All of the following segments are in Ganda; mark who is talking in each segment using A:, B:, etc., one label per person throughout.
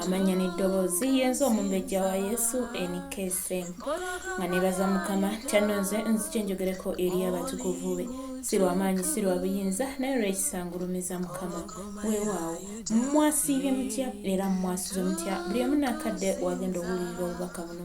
A: amannya n'eddoboozi yenze omumbejja wa yesu nkm nga nebaza mukama kyannonze nzikye njogereko eri abatukuvu be si lwamaanyi si lwa buyinza naye lwekisangulumiza mukama weewaawo mwasiibye mutya era mwasuze mutya buli omu nakadde wagenda okuwulirira obubaka buno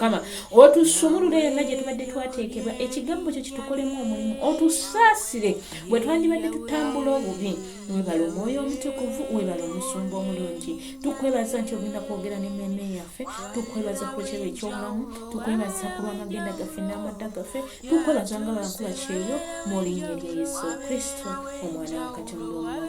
A: kama otusumulule yonna gye tubadde twateekebwa ekigambo kyo kitukolemu omulimu otusaasire bwe twandibadde tutambula obubi webala omwoyo omutukuvu webala omusumba omulungi tukwebaza nti ogenda kwogera nememe yaffe tukwebaza ku kyero ekyobulamu tukwebaza ku lwamagenda gaffe n'amadda gaffe tukwebaza nga bankula kyeyo mu linnya lya yesu kristo omwana wa katonda omulamu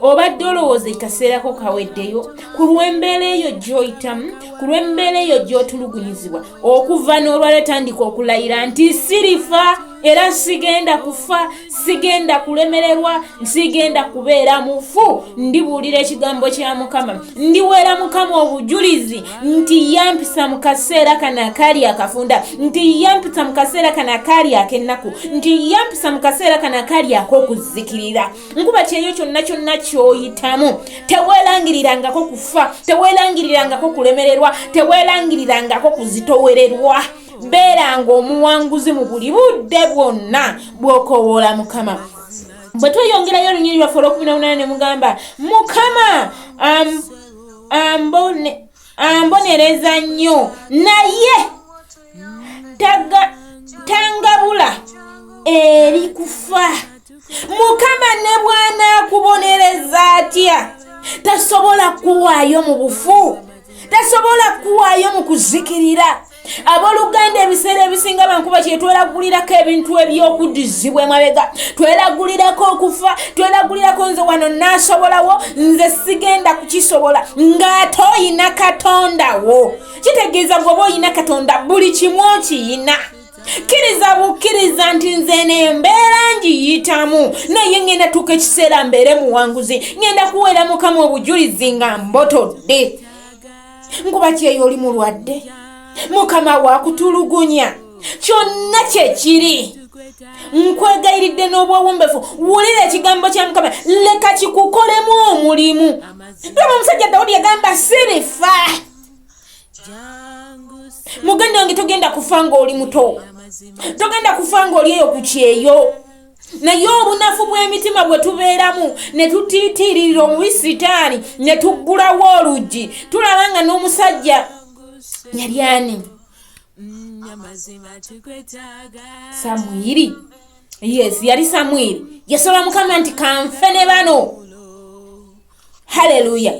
A: obadde olowooza ekaseerako kaweddeyo ku lw'embeera eyo gy'oyitamu ku lw'embeera eyo gy'otulugunyizibwa okuva n'olwala etandika okulayira nti sirifa era sigenda kufa sigenda kulemererwa sigenda kubeera mufu ndibuulira ekigambo kya mukama ndiweera mukama obujulizi nti yampisa mu kaseera kano akaali akafunda nti yampisa mu kaseera kano akaali ak'ennaku nti yampisa mu kaseera kano akaali ak'okuzikirira nkuba kyeyo kyonna kyonna kyoyitamu teweelangirirangako kufa teweelangirirangako kulemererwa teweelangirirangako kuzitowererwa beeranga omuwanguzi mu buli budde bwonna bw'okowoola mukama bwe tweyongerayo olunyiri lwaffe olwokumi nowunana ne mugamba mukama ambonereza nnyo naye tangabula eri kufa mukama ne bwanaakubonereza atya tasobola kuwaayo mu bufu tasobola kuwaayo mu kuzikirira aboluganda ebiseera ebisinga bankuba kyetwelagulirako ebintu ebyokudizibwa emabega twelagulirako okufa twelagulirako nze wano nasobolawo nze sigenda kukisobola ngaate oyina katondawo kitegeeza bwoba olina katonda buli kimu okiyina kkiriza bukkiriza nti nze eno embeera ngiyitamu naye ŋŋenda tuuka ekiseera mbeere muwanguzi ŋŋenda kuweera mukama obujulizi nga mbotodde nkuba kyeyo oli mulwadde mukama wakutulugunya kyonna kyekiri nkwegayiridde n'obwowombefu wulira ekigambo kya mukama leka kikukolemu omulimu ndoba omusajja dawudi yagamba sirifa muganda wange togenda kufa ng'oli muto togenda kufa ng'oli eyo ku kyeyo naye obunafu bw'emitima bwe tubeeramu ne tutiitiirira omubi sitaani ne tuggulawo oluggi tulaba nga n'omusajja yali ani samwiri yes yali samwiri yasaba mukama nti kanfe ne bano haleluya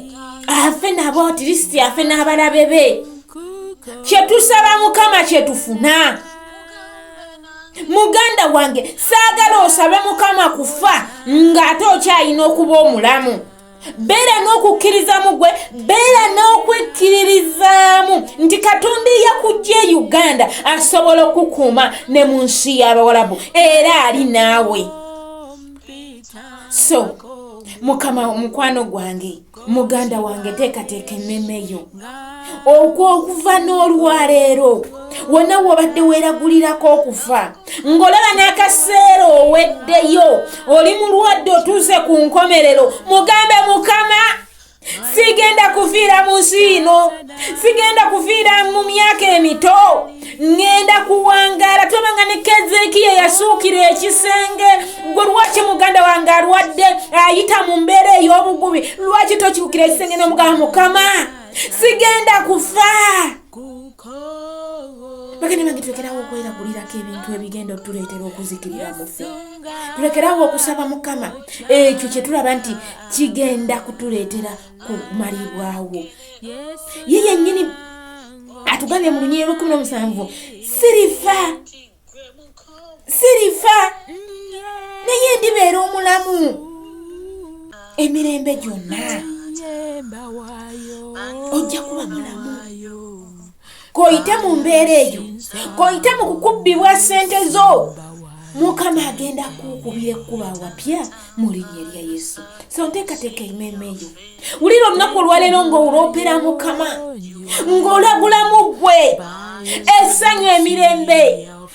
A: afe nabo tirisiti afe n'abalabe be kyetusaba mukama kyetufuna muganda wange saagala osabe mukama kufa ng'ate okyalina okuba omulamu beera n'okukkirizamu gwe beera n'okwekkiririzaamu nti katonda eyakujja e uganda asobola okukuuma ne mu nsi y'abawalabu era ali naawe so mukama mukwano gwange muganda wange teekateeka emmeme yo okwokuva n'olwaleero wonna wobadde weeragulirako okufa ng'olaba n'akaseera oweddeyo oli mulwadde otuuse ku nkomerero mugambe mukama sigenda kuviira mu nsi yino sigenda kuviira mu myaka emito ŋŋenda kuwangaala toba nga ne kezeekiya yasuukira ekisenge gwe lwaki muganda wange alwadde ayita mu mbeera ey'obugubi lwaki tokiukira ekisenge n'omugamba mukama sigenda kufa bagenda bange tulekerawo okweragulirako ebintu ebigenda otuleetera okuzikirira mufe tulekerawo okusaba mukama ekyo kyetulaba nti kigenda kutuleetera kumalibwawo ye yennyini atugambye mu lunyiri lwekumi nomusanvu sirifa sirifa naye ndibeera omulamu emirembe gyonna ojja kuba mulamu koyite mu mbeera eyo koyite mu kukubbibwa ssente zo mukama agenda kukubira ekkuba wapya mu linnya erya yesu so nteekateeka emeeme eyo wulira olunaku olwaleero ng'olwopera mukama ng'olagulamu ggwe esanyu emirembe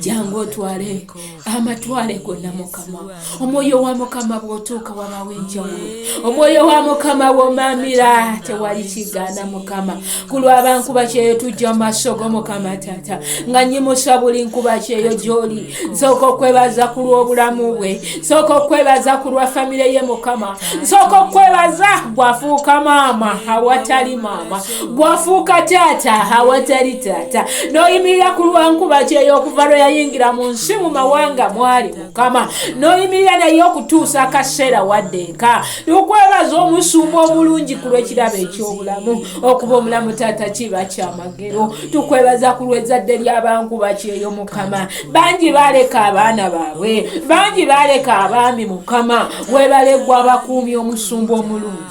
A: jangu otwale amatwale gonna mukama omwoyo wa mukama bwotuuka wabawo enjawulo omwoyo wa mukama womamira tewali kigaana mukama kulwaba nkuba kyeyo tujja mu maaso go mukama taata nga nyimusa buli nkuba kyeyo gyoli nsooka okwebaza ku lw'obulamu bwe nsooka okwebaza ku lwa famire ye mukama nsooka okwebaza gwafuuka maama awatali maama bwafuuka taata awatali taata n'oyimirira ku lwankuba kyeyo okuva lwe yayingira mu nsi mu mawanga mwali mukama n'oyimirira naye okutuusa akaseera wadde eka tukwebaza omusumba omulungi ku lw'ekirabo eky'obulamu okuba omulamu taata kiba kyamagero tukwebaza ku lw'ezzadde ly'abankuba kyeyo mukama bangi baaleka abaana baabwe bangi baaleka abaami mukama webalegwa abakuumi omusumba omulungi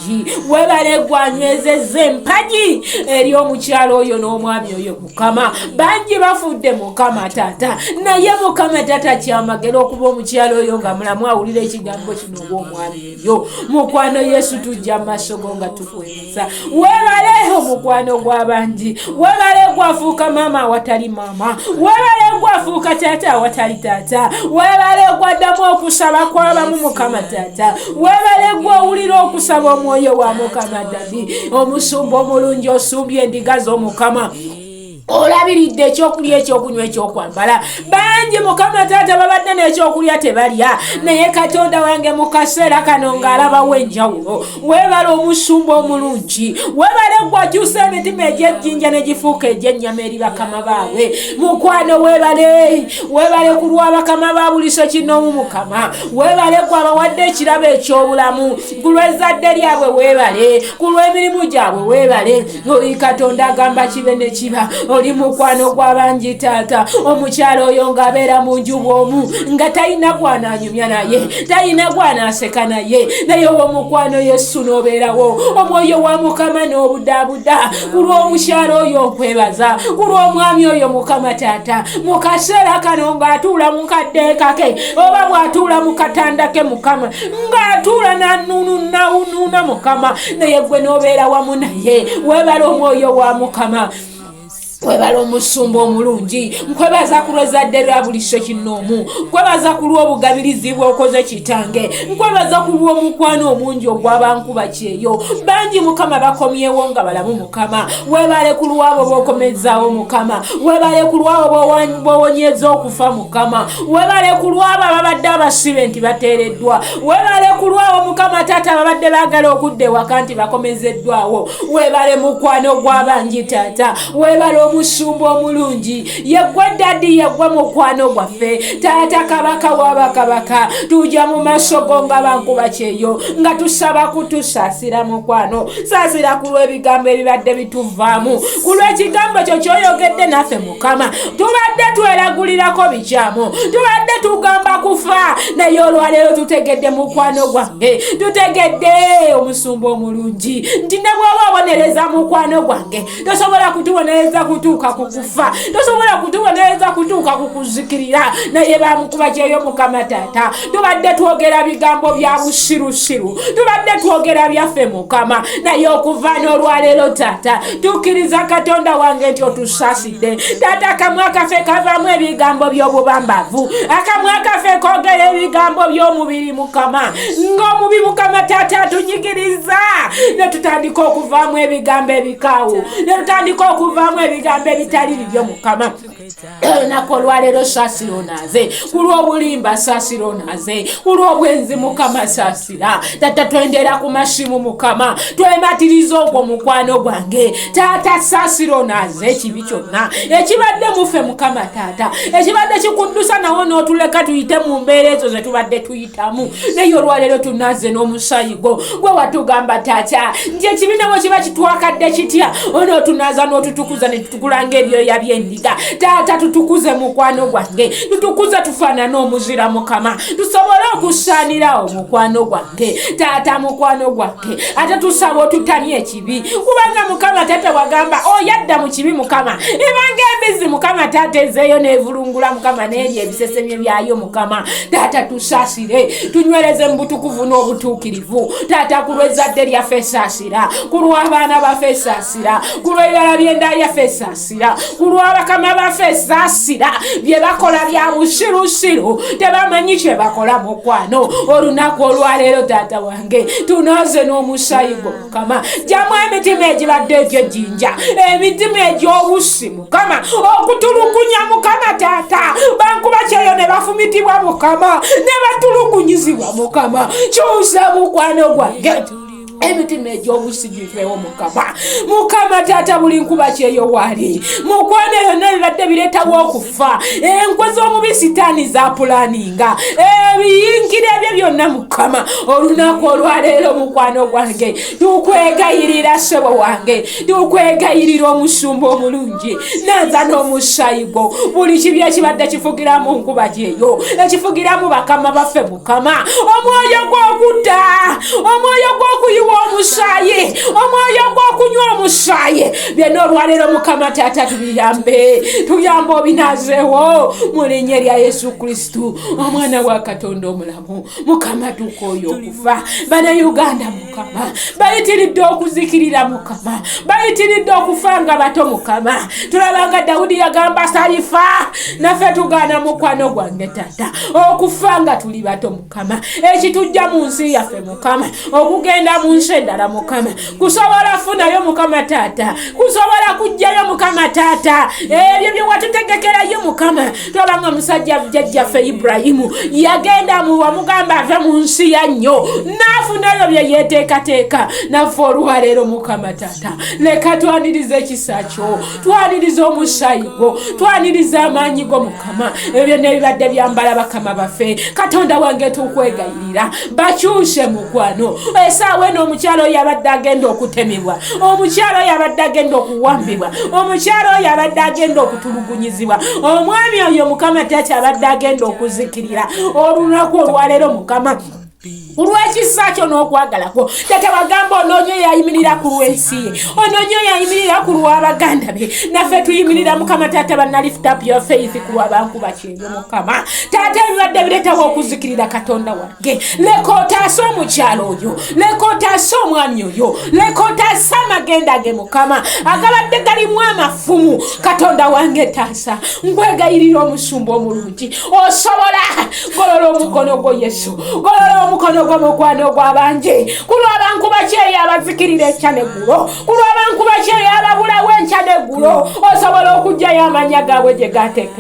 A: webale gwanywezezza empagi eri omukyalo oyo n'omwami oyo mukama bangi bafudde mukama taata naye mukama taata kyamagera okuba omukyalo oyo nga mulamu awulira ekigambo kino obwomwami oyo mukwano yesu tujja maaso go nga tukweza webale omukwano gw'abangi webale gwafuuka maama awatali maama webale gwafuuka taata awatali taata webale gwaddamu okusaba kw'abamu mukama taata webale gwe owulira okusaba omwoyo wa mukama dadi omusumba omulungi osumbye endiga z'omukama olabiridde ekyokulya ekyokunywa ekyokwambala bangi mukama taata babadde n'ekyokulya tebalya naye katonda wange mu kaseera kano ng'alabawo enjawulo webala omusumba omulungi webale gwakyusa emitima egyejjinja ne gifuuka egy'ennyama eri bakama baabwe mukwano webale webale ku lwa bakama ba buliso kinoomu mukama webale gwabawadde ekirabo ekyobulamu ku lwezadde lyabwe webale ku lwemirimu gyabwe webale oli katonda agamba kibe ne kiba oli mukwano gwabangi taata omukyalo oyo ngaabeera mu nju bwomu nga talina gwananyumya naye talina gwanaseka naye naye owomukwano yesu nobeerawo omwoyo wa mukama n'obudaabuda ku lw'omukyalo oyo okwebaza ku lw'omwami oyo mukama taata mu kaseera kano ng'atuula mu kadde kake oba bwatuula mu katanda ke mukama ng'atuula nanununawunuuna mukama naye gwe n'obeera wamu naye webala omwoyo wa mukama kwebala omusumba omulungi nkwebaza ku lwezadde lwa buli sekinoomu nkwebaza ku lw'obugabirizi bwokoze kitange nkwebaza ku lw'omukwano omungi ogwabankuba kyeyo bangi mukama bakomyewo nga balamu mukama webale ku lwabo bokomezaawo mukama webale ku lwabo bowonyeza okufa mukama webale ku lwabo ababadde abasibe nti bateereddwa webale ku lwabo mukama taata ababadde bagala okudda ewaka nti bakomezeddwawo webale mukwano gwabangi taata webale omusumba omulungi yegwe dadi yegwe mukwano gwaffe taata kabaka waba kabaka tuja mu maso go nga bankuba kyeyo nga tusaba kutusasira mukwano sasira ku lw'ebigambo ebibadde bituvaamu ku lw'ekigambo kyo kyoyogedde naffe mukama tubadde tweragulirako bikyamu tubadde tugamba kufa naye olwaleero tutegedde mukwano gwange tutegedde omusumba omulungi nti ne bwoba obonereza mukwano gwange tosobola kutubonereza kutuuka ku kufa tosobola kutubonereza kutuuka ku kuzikirira naye bamukuba kyeyo mukama taata tubadde twogera bigambo bya busirusiru tubadde twogera byaffe mukama naye okuva n'olwaleero taata tukkiriza katonda wange nti otusasidde taata akamwa kaffe kavamu ebigambo by'obubambavu akamwa kaffe kogera ebigambo by'omubiri mukama ng'omubi mukama taata atunyigiriza ne tutandika okuvaamu ebigambo ebikaawo ne tutandika okuvaamu ebigambo ebitali bibyo mukama olunaku olwaleero saasira onaaze ku lw'obulimba saasira onaaze ku lw'obwenzi mukama saasira taata twendera ku masimu mukama twematiriza ogwo mukwano gwange taata saasira onaaze ekibi kyonna ekibadde muffe mukama taata ekibadde kikuddusa nawo n'otuleka tuyite mu mbeera ezo ze tubadde tuyitamu naye olwaleero tunazze n'omusayi gwo gwe watugamba taata nti ekibiina bwe kiba kitwakadde kitya onootunaza n'otutukuza ne tutukulanga ebyoya by'endiga taata tutukuze mukwano gwange tutukuze tufaanane omuzira mukama tusobole okusaanirawo mukwano gwange taata mukwano gwange ate tusaba otutamye eki kibi kubanga mukama taata wagamba oyadda oh, mu kibi mukama ebanga embizi mukama taata ezeeyo nevulungula mukama neeri ebisesemye byayo mukama taata tusasire tunywereze mu butukuvu n'obutuukirivu taata ku lwezzadde lyaffe esasira ku lw'abaana baffe esasira ku lw'ebibala by'enda yaffe esasira ku lw'abakama baffe esasira bye bakola bya busirusiru tebamanyi kye bakola mukwano olunaku olwaleero taata wange tunooze n'omusayigwo mukama jamu emitima egibadde egyo jinja emitima egyobusi mukama okutulugunya mukama taata bankuba kyeyo ne bafumitibwa mukama ne batulugunyizibwa mukama kyusa mukwano gwange emitima egyobusi givewo mukama mukama taata buli nkuba kyeyo waali mukwano yonna bibadde bireetawo okufa fa enkwe z'omubi sitaani zapulaninga ebiyingira ebyo byonna mukama olunaku olwaleero mukwano gwange tukwegayirira sebo wange tukwegayirira omusumba omulungi naza n'omusayigwo buli kibi ekibadde kifugira mu nkuba gyeyo ekifugira mu bakama baffe kama omwoyo gw'okutta omwoyo gw'okuyiwa omusaayi omwoyo gw'okunywa omusaayi byonna olwaleero mukama taata tubiyambe tuyambe obinazeewo mu linnya erya yesu kristu omwana wa katonda omulamu mukama tuuka oyo okufa bana uganda mukama bayitiridde okuzikirira mukama bayitiridde okufa nga bato mukama tulaba nga dawudi yagamba salifa naffe tugaana mukwano gwange tata okufa nga tuli bato mukama ekitujja mu nsi yaffe mukama okugenda mu nsi endala mukama kusobola funayo mukama taata kusobola kujjayo mukama taata ebyo byewatutegekerayo mukama tulaba nga musajja jajjaffe iburahimu yagenda muwamugamba ave mu nsi ya nnyo n'afuna ebyo bye yeteekateeka naffe olwaleero mukama tata leka twaniriza ekisa kyo twaniriza omusaayi gwo twaniriza amaanyi go mukama ebyo byonna ebibadde byambala bakama baffe katonda wange tukwegayi era bakyuse mukwano esaawa eno omukyalo yabadde agenda okutemebwa omukyalo yabadde agenda okuwambibwa omukyalo yabadde agenda okutulugunyizibwa omwami oyo mukama tati abadde agenda okuzikirira olunaku olwaleero mukama kulwekisa kyo n'okwagala kwo tata bagamba onoonyo yayimirira ku lwensi ye onoonyo yayimirira ku lwabaganda be naffe tuyimirira mukama tata banalift up your faith ku lwabankuba kye mukama taata ebibadde bireetawo okuzikirira katonda wange leka otaase omukyalo oyo leka otaase omwami oyo leka otaase amagenda ge mukama agabadde galimu amafumu katonda wange taasa nkwegayirira omusumba omulungi osobola golola omukono gwo yesu golola omukono gwo mukwano gwabangi ku lwabanku bakyeyo abazikirira ekya neggulo ku lwabanku bakyeyo ababulawo enkya neggulo osobola okugyayo amanya gaabwe gye gateeka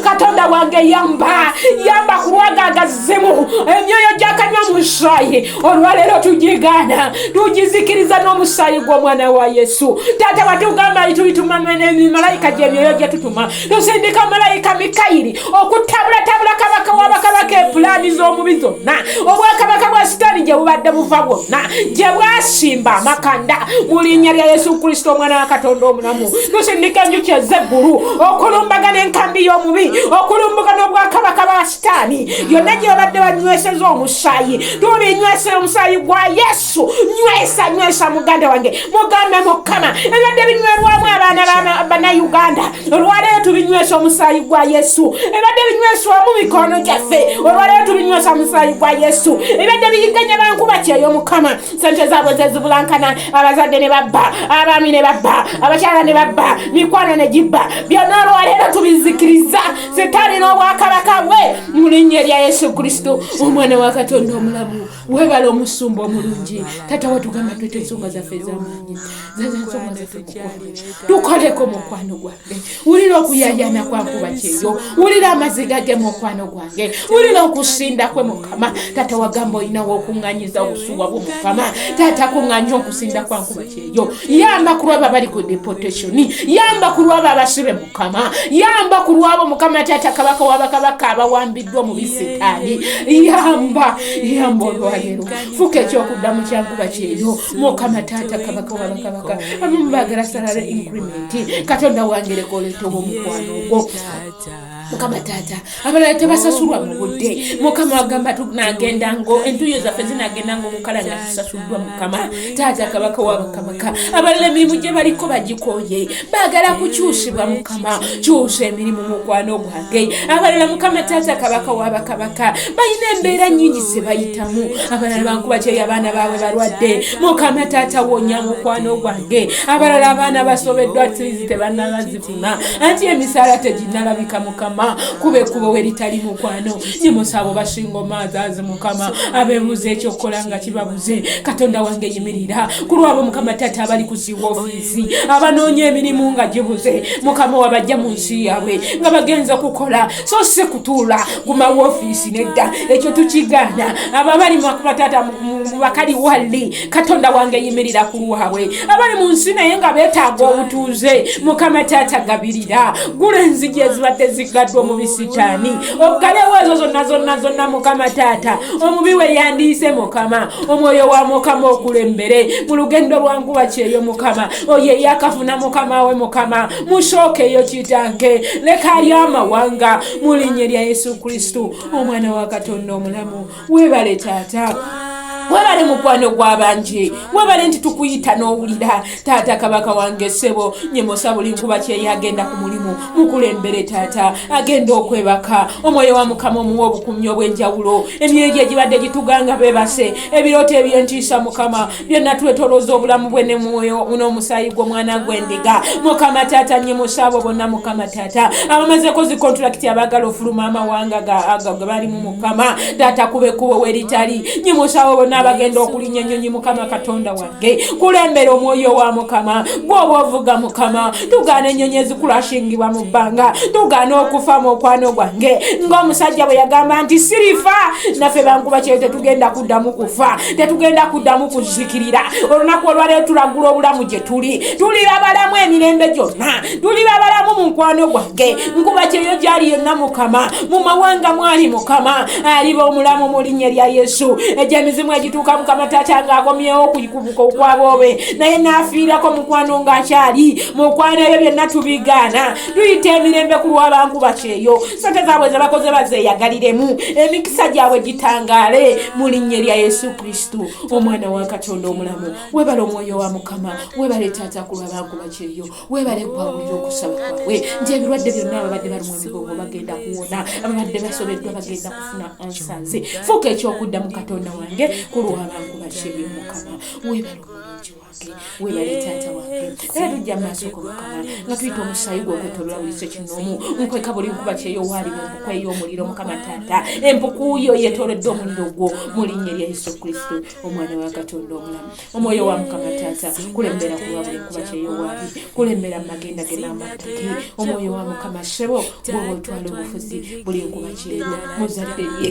A: katonda wange yamba yamba kulwagagazimu emyoyo gyakanywa mu musaayi olwaleero tugigaana tugizikiriza n'omusaayi gw'omwana wa yesu taata watugamba nti tulituma malayika gyemyoyo gyetutuma tusindika malayika mikayiri okutabulatabula kabaka wabakabaka epulaani z'omubi zonna obwakabaka bwa sitaani gye bubadde buva bwonna gye bwasimba amakanda mu linnya lya yesu kristo omwana wa katonda omulamu tusindika enjuki ezeggulu okulumbagana enkambi y'omubi okulumbagana obwakabaka ba sitaani yonna gyebadde banyweseza omusaayi tulinywesera omusaayi gwa yesu nywesa nywesa muganda wange mugambe mukama ebadde binywerwamu abaana banauganda olwaleero tubinywesa omusaayi gwa yesu ebadde binyweswamu mikono gyaffe olwaleero tubinywesa omusaayi gwa yesu ebadde biyiganya bankuba kyeyo mukama sente zaabwe zezibulankana abazadde ne babba abaami ne babba abakyala ne babba mikwano ne gibba byonna olwaleero tubizikiriza sitaani n'obwakabaka bwe mu linnya erya yesu kristo omwana wa katonda omulamu webala omusumba omulungi tata watugamba twete ensonga zaffe ezamaanyi zaza ensonga zaffe kukwano tukoleko mukwano gwa wulira okuyayana kwankuba kyeyo wulira amaziga ge mukwano gwange wulira okusinda kwe mukama taata wagamba olinawo okuŋŋanyiza obusuwa bwo mukama taata kuŋŋanya okusinda kwankuba kyeyo yamba ku lwabo abali ku deportation yamba ku lwabo abasibe mukama yamba ku lwabo mukama taata kabaka wabakabaka abawambiddwa mu bisitaani yamba yamba olwalero fuka ekyokuddamu kyankuba kyeyo mukama taata kabaka wabakabaka abamu bagala salary increment katonda wange leka oletewo omukwano ogwo mukama taata abalala tebasasulwa mu budde mukama wagamba tunagenda ngo entuyo zaffe zinagenda ngo mukala nga tusasuddwa mukama taata kabaka wabakamaka abalala emirimu gye baliko bagikoye baagala kukyusibwa mukama kyusa emirimu mukwano gwange abalala mukama taata kabaka wabakamaka balina embeera nyingi zebayitamu abalala bankuba kyeyo abaana baabwe balwadde mukama taata wonya mukwano gwange ge abalala abaana basobeddwa tizi tebanabazifuna anti emisaala teginalabika mukama kuba ekkubo we litali mukwano nyimusabo basinga omaazaazi mukama abebuuza ekyokukola nga kibabuze katonda wange yimirira ku lwabo mukama taata abali kusiwa ofiisi abanoonya emirimu nga gibuze mukama wabajja mu nsi yaabwe nga bagenza okukola so si kutuula guma wofiisi nedda ekyo tukigaana abo abali mubakataata mubakali walli katonda wange yimirira ku lwabwe abali mu nsi naye nga beetaaga obutuuze mukama taata gabirira gula enzigi ezibadde zigaddwa mu bisitaani oggalewo ezo zonna zonna zonna mukama taata omubi we yandiise mukama omwoyo wa mukama okulembere mu lugendo lwanguba kyeyo mukama oyo eyakafuna mukama we mukama musookeyo kitange leka ali amawanga mu linnya lya yesu kristo omwana wa katonda omulamu webale taata webale mukwano gwabanje webale nti tukuyita n'owulira taata kabaka wange sebo nyemosa buli nkuba kyeye agenda ku mulimu mukulembere taata agenda okwebaka omwoyo wa mukama omuwa obukumyi obw'enjawulo emyoyo gye gibadde gituganga bebase ebirooto ebyentiisa mukama byonna twetolooza obulamu bwe ne mwoyo n'omusaayi gw'omwana gw'endiga mukama taata nye musaabo bonna mukama taata abamazeko zi kontulakiti abaagala ofuluma amawanga ge balimu mukama taata kuba ekkubo weritali nye musaabo bonna abagenda okulinya ennyonyi mukama katonda wange kulembera omwoyo wa mukama gwoba ovuga mukama tugaana ennyonyi ezikulashingibwa mu bbanga tugaana okufa mu okwano gwange ng'omusajja bwe yagamba nti sirifa naffe bankuba kyeyo tetugenda kuddamu kufa tetugenda kuddamu kuzikirira olunaku olwaleero tulagula obulamu gye tuli tuli babalamu emirembe gyonna tuli babalamu mu nkwano gwange nkuba kyeyo gyali yonna mukama mu mawanga mwali mukama aliba omulamu mu linnya lya yesu egyemizimu egituuka mukama taata ng'akomyewo okukubuka okwaboobe naye n'afiirako mukwano ng'akyali mukwano ebyo byonna tubigaana tuyita emirembe ku lwabankuba kyeyo sente zaabwe zebakoze bazeeyagaliremu emikisa gyabwe gitangaale mu linnya erya yesu kristo omwana wa katonda omulamu webale omwoyo wa mukama webale taata ku lwabankuba kyeyo webale gwawulira okusaba kwabwe nti ebirwadde byonna ababadde balimu emigongo bagenda kuwona ababadde basobeddwa bagenda kufuna ansanze fuuka ekyokuddamu katonda wange ku lwabankuba kyeyo mukama webale omwoyo webale taata wange era tujja maaso ko mukama nga tuyita omusaayi gwe okwetolola buli kyo kinomu nkweka buli nkuba kyeyo waali empuku ey'omuliro mukama taata empuku yo yetoledde omuliro gwo mu linnya erya yesu kristo omwana wa katonda omulamu omwoyo wa mukama taata kulembera kuba buli nkuba kyeyo waali kulembera mumagenda ge n'amattaki omwoyo wa mukama sebo gwoba otwala obufuzi buli nkuba kyeyo muzadde lye